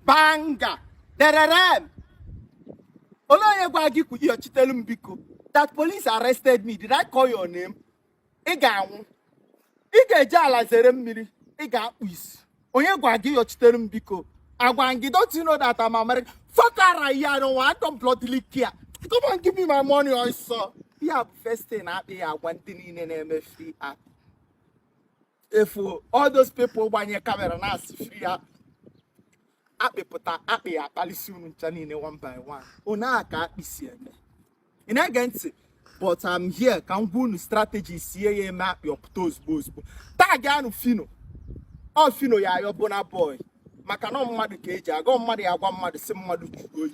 banga dererem olee onye gwa gị ka ị yọchitelu m biko that police arrested me did I call your name ị ga-anwụ ị ga-eji ala zere mmiri ị ga-akpụ isi onye gwa gị yọchitere m biko agwa m gị don't you know that I'm American fuck ara ya I don't want don't bloodily care come on give me my money ọsọ ya bụ first thing akpị ya-agwa ndị niile na-eme free akpị ị fụ all those people gbanye camera na-asị free akpị akpị pụta akpị ya-akpalisi unu ncha niile one by one unu a ka akpị si eme ị na-ege ntị but I'm here ka m gwa unu strategy sie ya eme akpị ọ pụta ozugbo ozugbo tagịanụ Phyno ọ Phyno ya-ayọ Burna Boy maka na mmadụ ka e ji aga mmadụ ya-agwa mmadụ sị mmadụ jụrụ oyi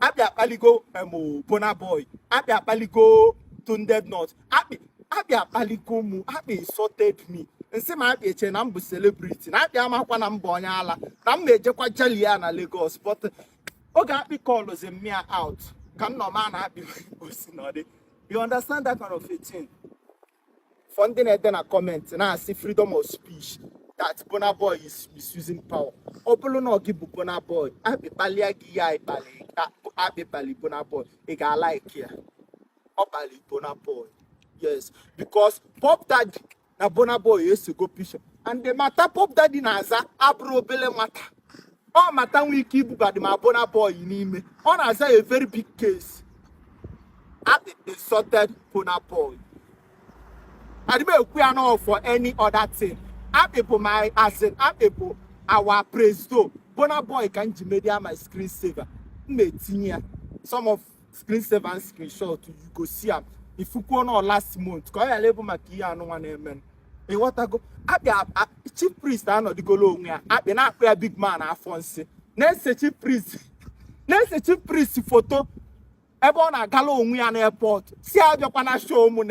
akpị akpaligo em Burna Boy akpị akpaligo Tunde Ednut akpị akpaligo mụ akpị insulted me m sị ma akpị eche na m bụ celebrity na akpị amakwa na m bụ onye ala na m na-ejekwa jali ya na Lagos but oge akpị calls m ya out ka m nọ ma na akpị osi na ọ dị you understand that kind of a thing for ndị na-ede na comment na-asị freedom of speech that Burna Boy is misusing power ọ bụlụ na ọ gị bụ Burna Boy akpị kpalịa gị ya ịkpalị akpị kpalị Burna Boy ị ga-alike ya ọ kpalị Burna Boy yes because Puff Daddy na Burna Boy esego picture and the matter Puff Daddy na-aza abụrọ obele matter ọ matter nwe ike ibubadị ma Burna Boy n'ime ọ na-aza a very big case akpị insulted Burna Boy adị m ekwu ya na for any other thing akpị bụ my as in akpị bụ our presido Burna Boy ka m ji medịa my screen saver m na-etinye ya some of screen saver and screenshot you go see am ị fukwuo na last month ka ọ ghara ịbụ maka ihe anụnwa na-eme ị ghọtago akpị chief priest anọdụgolo onwe ya akpị na-akpọ ya big man afọ nsị na-ese chief priest na-ese chief priest foto ebe ọ na-agala onwe ya n'airport sị ya abịakwana show mụ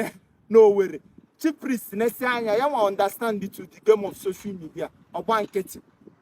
n'Owerri chief priest nesịa anya ya nwa understandụ the game of social media ọ gba nkịtị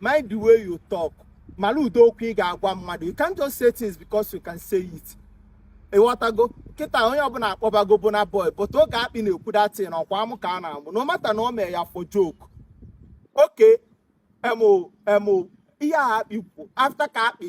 mind the way you talk mara ụdị okwu ị ga-agwa mmadụ you can't just say things because you can say it ị ghọtago kịta onye ọbụla akpọbago Burna Boy but oge akpị na-ekwu that thing ọ kwa amụ ka a na-amụ na matter na ọ mee ya for joke okay em em ihe a akpị kwu after ka akpị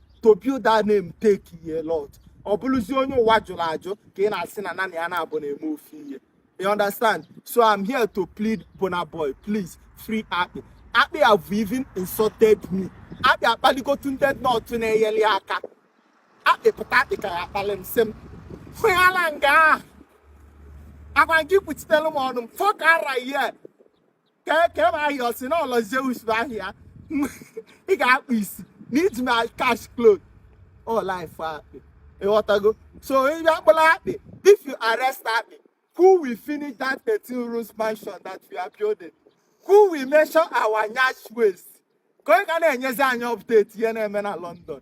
to build that name take a lot ọ bụrụzie onye ụwa jụrụ ajụ ka ị na-asị na nanị ya na Burna emefe ihe you understand so i'm here to plead Burna Boy please free akpị akpị have even insulted me akpị akpaligo Tunde Ednut na-enyeli ya aka akpị pụta akpị ka ya-akpali m sị m hụyala nga ahụ agwa m gị kpuchitelu m ọnụ m fuck ara ya kee kee ma ahịa o si na ụlọ zeus bụ ahịa ị ga-akpụ isi na iji ma cash clothes all life akpị ịghọtago so ị bịa kpụla akpị if you arrest akpị who will finish that 13 rooms mansion that we are building who will measure our nyash waist ka onye ga na-enyezi anyị update ihe na-eme na london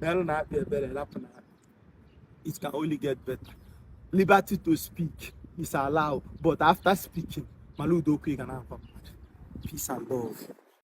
meerụnụ akpị ebere rapụnụ ya it can only get better liberty to speak is allowed but after speaking mara ụdị okwu ị ga na-agwa mmadụ peace and love